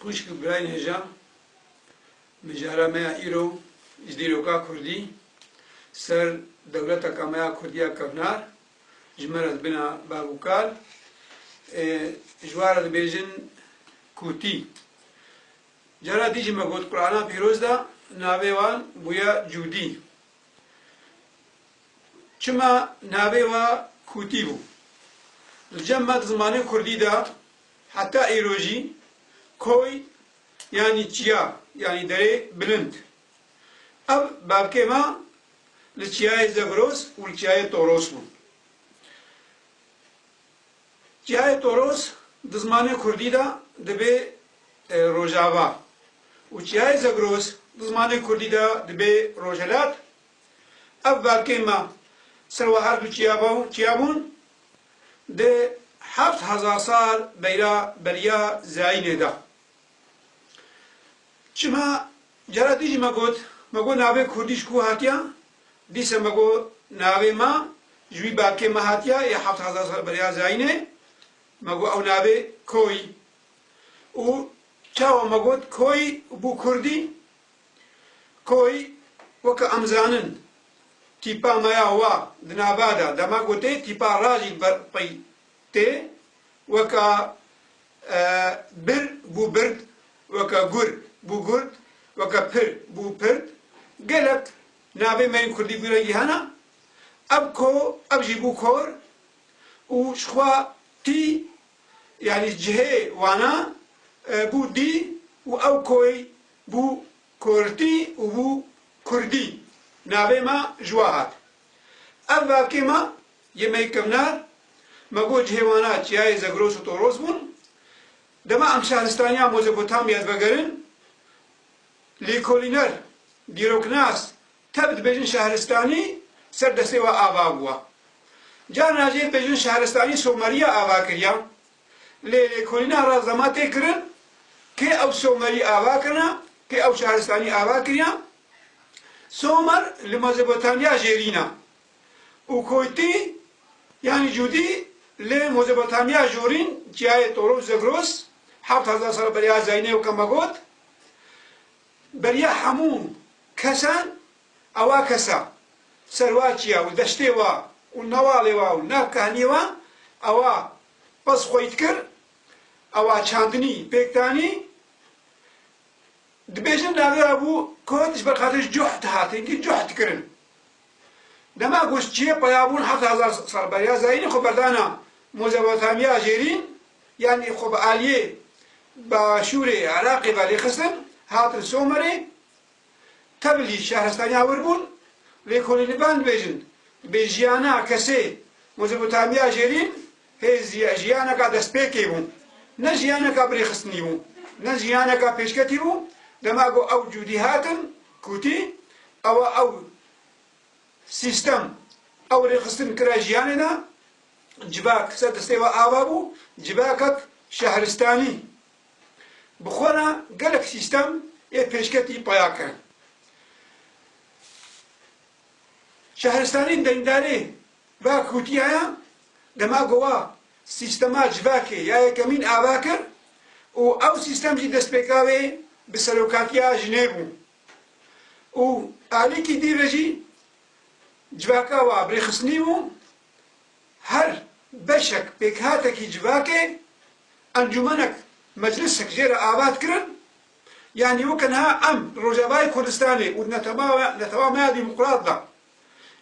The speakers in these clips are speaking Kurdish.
Xwişk û birayên hêja mijara me ya îro ji dîroka kurdî ser dewleteka me ya kurdî ya kevnar ji me re dibina bav û kal ê ji wan re dibêjin kûtî. Cara dî jî me got Qurana pîroz de navê wan bûye Cûdî. Çima navê we kûtî bû? Li cem me di zimanê kurdî de Heta îro jî koy yanî çiya yanî derê bilind. Ev bavkê me li çiyayê Zegros û li çiyayê Toros bûn. Çiyayê Toros di zimanê kurdî de dibê Rojava û çiyayê Zegros di zimanê kurdî de dibê Rojhilat. Ev bavkê me ser we her du çiya bûn. di heft hezar sal beyra beriya Zeynê de. Çima cara din jî me got, me got navê kurdî ji ku hatiya? Dîsa me got navê me ji wî berkê me hatiya yê heft hezar sal beriya Zeynê, me got ew navê Koy û çawa me got Koy û bû kurdî? Koy, weke em zanin, tîpa me ya wa di nava de dema ku tê tîpa rajî ber qey tê, weke bir bû bird, weke gur bû gurd, weke pir bû pird. Gelek navê me yên kurdî bû rengî hene. Ev ko, ev jî bû kor û ji xwe tî yanî cihê wana bû dî û ew koy Bû Kurtî û bû Kurdî. Navê ma ji wa hat. Ev vakê ma yê mey kevnar, me bo cihê wana Çiyayê Zegros û Toros bûn. Dema em şehristaniya Mozopotamya divegerin, lêkolîner, dîroknas, tevr dibêjin şehristanî ser destê we ava bûwa. Carna jê dibêjin şehristanî Someriya ava kiriya. Lê lêkolîna ra zema tê kirin kê ew Somerî ava kirina, kê ew şaristanî ava kiriya. Somer li Mezopotamya jê rîna û Koytî yanî Cûdî li Mezopotamya jû rîn çiyayê Toros Zagros heft hezar sal beriya Zayne û Kamagot beriya hemû kesan Ewa kesa, serwaçiya û deştê wa û nawalê wa û nav kehnî wa, ewa pez xwey dikir, ewa çandinî pêk danî, dibêjin navê wa bû Kod ji ber xatir ji coh dihatin ki coh dikirin. Dema ku çiyê peyabûn heft hezar sal beriya zayînî xwe berdana Mozopotamya Jêrîn yanî xwe bi aliyê Başûrê Iraqê ve lêxistin, hatin Somerê, Tevl jî şehristaniya wir bûn. Lêkolînî ben dibêjin, bi jiyana kesê Mozopotamiya Jêrîn hê jiyaneka destpêkê bû. Ne jiyaneka birêxistinî bû, ne jiyaneka pêşketî bû. Dema ku ew cûdî hatin kûtî, ewa ew sîstem, ew rêxistin kira jiyanê de. Civak ser destê we ava bû, civakek şehristanî. Bi xwe re gelek sîstem ê pêşketî peya kirin. Şehristanên deyndari ve Kûtiya ye, dema ku wa sîstema civakê ya yekemîn ava kir û ew sîstem jî destpêka wê bi serokatiya jinê bû û alîkî dî ve jî civaka wa bi rêxistinî bû. Her beşek pêkhatekî civakê, encûmenek, meclisek jê re avat kirin, yanî weke niha em li Rojavayê Kurdistanê û di netewamaya demokrat de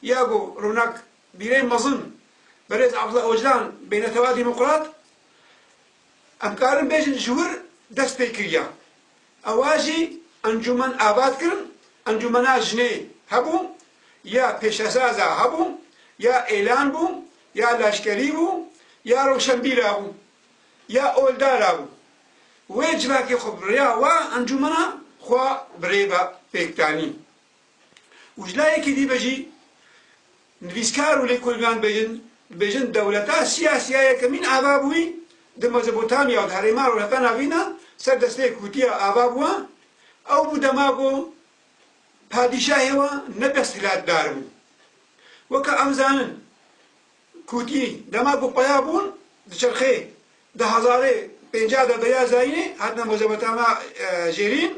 ya ku rûnakbîrên mezin berêz Abdullah Ocalan bê netewa demokrat, Em karin bêjin ji wir dest pê kiriya. Ewa jî encûmen avat kirin, encûmena jinê hebû, ya pêşesaza hebû, ya êlan bû, ya laşkerî bû, ya rewşenbîra bû, ya oldara bû. Wê civakê xwe bi riya wa encûmena xwe bi rê ve pêk danîn. Û ji layekî dî be jî nivîskar û lêkolînan bêjin dibêjin dewleta siyasiya yekemîn ava bûyî di Mezopotamya û di herêma rojhata navîn de ser destê kûtiya ava bûye, ew bû dema ku padîşahê we ne desthilatdar bû. Weke em zanin kûtî dema ku peya bûn di çerxê di hezarê pênceh de beya zayînê hatine Mezopotamya jêrîn,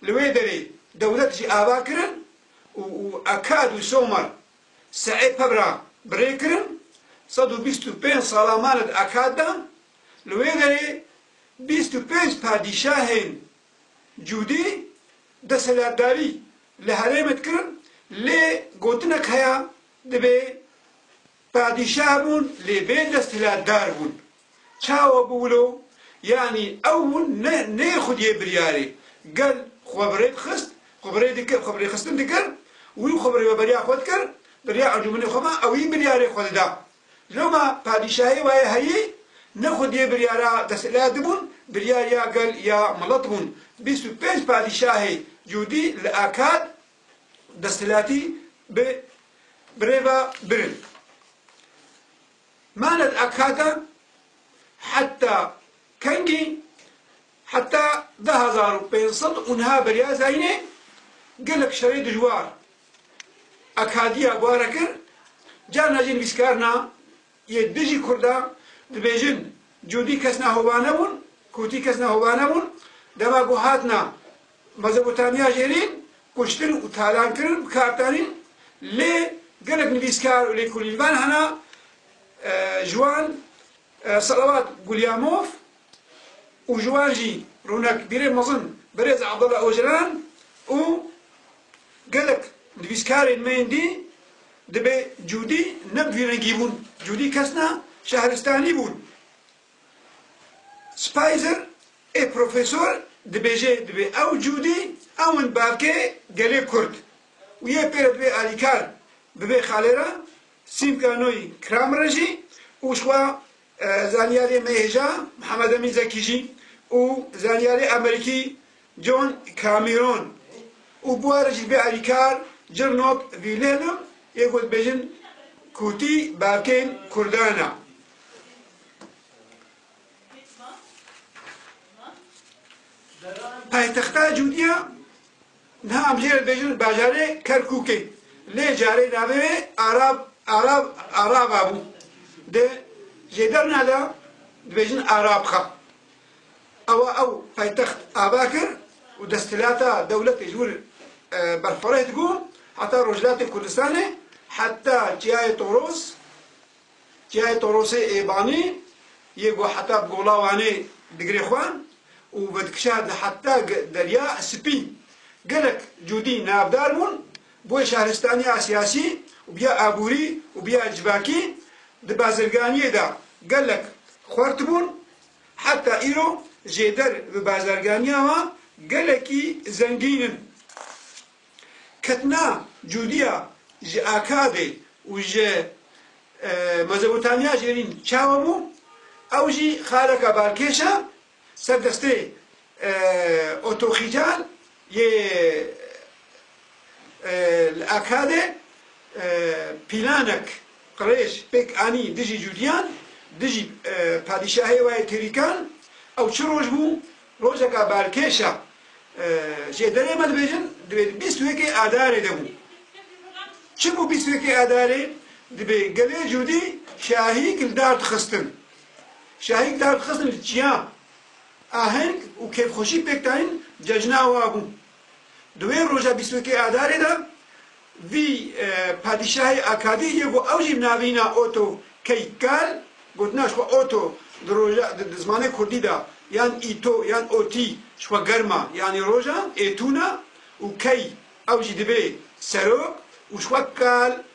Li wê derê dewlet jî ava kirin û Akad û Somar Seê Pebra bi rê kirin. Sed û bîst û pênc sala mane di Akad de. Li wê derê bîst û pênc padîşahên Cûdî deselatdarî li herêmê dikirin lê gotinek heye dibê, Padîşah bûn lê bê desthilatdar bûn. Çawa bû wilo? Yanî ew hûn ne nê xwediyê biryarê gel xwe bi rê dixist, xwe bi rê dikir, xwe bi rêxistin dikir, wî xwe bi rêveberiya xwe dikir, bi rêya encûmenê xwe ma ewî biryarê xwe dida. Loma padîşahê wayê heyî ne xwediyê biryara desthilatê bûn, biryar ya gel ya milet bûn. Bîst û pênc padîşahê cûdî li Akad desthilatî bi birêva birin. Manet Akxaka heta kengî heta du hezar û pênc sed û niha beriya zayînê gelek şerê dijwar Akxadiya bare kir, carna jî nivîskarna yê dijî kurda dibêjin cûdî kesna hova nebûn, kûtî kesna hova nebûn, dema ku hatna Mezopotamya jêrî kuştin û talankirin bi kar tenîn lê gelek nivîskar û lêkolînvan hene ji wan Salavat Gulyamov û ji wan jî rûnakbîrê mezin Birêz Abdullah Ocalan û gelek nivîskarên me yên dî dibê cûdî ne bi vî rengî bûn cûdî kesna şehristanî bûn. Spicer, Ê profesor dibêje dibê ew cûdî ewin bavkê gelê kurd û yê pê re dibê alîkar bibê xalê re, Sîmka Noy Kramer re jî û jixwe zanyarê me hêja Mihemed Emîn Zekî jî û zanyarê Amerîkî John Cameron û buharê jî dibê alîkar Cirnok Vîlêlm yê ku dibêjin Kûtî bavkên Kurdan e. Paytexta Cûdîya niha em jê re dibêjin bajarê Kerkûkê lê carê navê wê Arab Arab Araba bû. Di jêderna de dibêjin Arabxa. Awa ew paytext ava kir û desthilata dewletê ji wir berxwereh dibû heta Rojhilatê Kurdistanê, heta Çiyayê Toros, Çiyayê Torosê ê Banî yê ku heta bi gola Wanê digirê xwe û vedikişand li heta Derya Spî. Gelek cûdî navdar bûn, bûye şahristaniya siyasî û bûye aborî û bûye civakî. Di bazirganiyê de gelek xwert bûn Heta îro jêder bi bazarganiya wan gelekî zengîn in. Ketina cudiya ji Akabê û ji Mezopotamya jêrîn çawa bû, ew jî xaleka balkêş e ser destê Otoxical yê Li Akadê pîlanek qirêj pêk anî dijî Cûdiyan, dijî padîşahê wayê Têrîkan. Ew çi roj bû? Rojeka balkêş e. Ji êderê me dibêjin divê di bîst û yekê Adarê de bû. Çi bû bîst û yekê Adarê? Divê gelê Cûdî şahîk li dar dixistin. Şahîk dar dixistin li çiya. Aheng û kêfxweşî pêk dayîn cejna wa bû. Di wê roja bîst û yekê Adarê de vî padîşahê Akadî yê ku ew jî navîna Otto Keikkal, gotina ji xwe Otto di roja di zimanê kurdî de yan Îto yan Otî ji xwe germa yanî roja, êtûna û key ew jî dibê serok û ji xwe kal.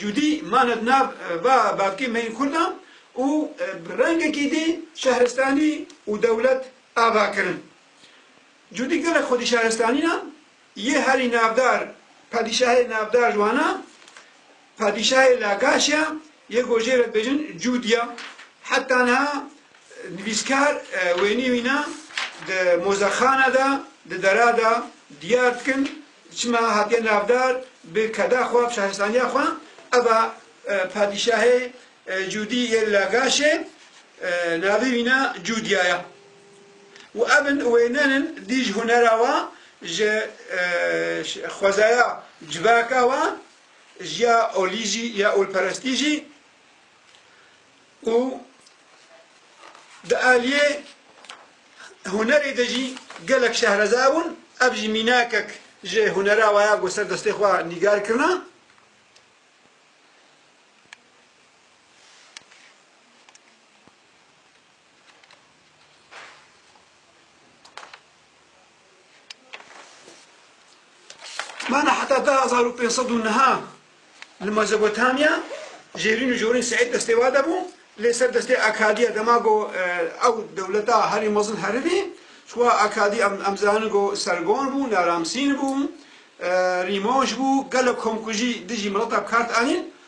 Cûdî mane di nav va bavkê me yên kurdan û bi rengekî dî şehristanî û dewlet ava kirin. Cûdî gelek xwedî şehristanînan yê herî navdar padîşahê navdar ji wan a Padîşahê Lagaşya yê gojê re dibêjin Cûd ya. Heta niha nivîskar wênî wîna di mozexana de di dera de diyar dikin Çima hatiye navdar bi keda xwe, şarisaniya xwe? Eva padîşahê Cûdî yê Lagaşê navê wîne Cûdya ye û ev in wênenin dî ji hunera we, ji xwezaya civaka we, ji ya olî jî ya olperestî jî. û di aliyê hunerê de jî gelek şehreza bûn, ev jî mînakek ji hunera we ya ku ser destê xwe nîgar kirina. Mana heta du hezar û pênc sed û niha li Mezopotamya jêrîn û jorîn Seîd destê wa de bû lê ser destê Akadiya dema ku ew dewleta herî mezin heribî ji wa Akadî em zanin ku Sergon bû, Naramsîn bû, Rîmoj bû, gelek komkujî dijî mileta bi kar anîn.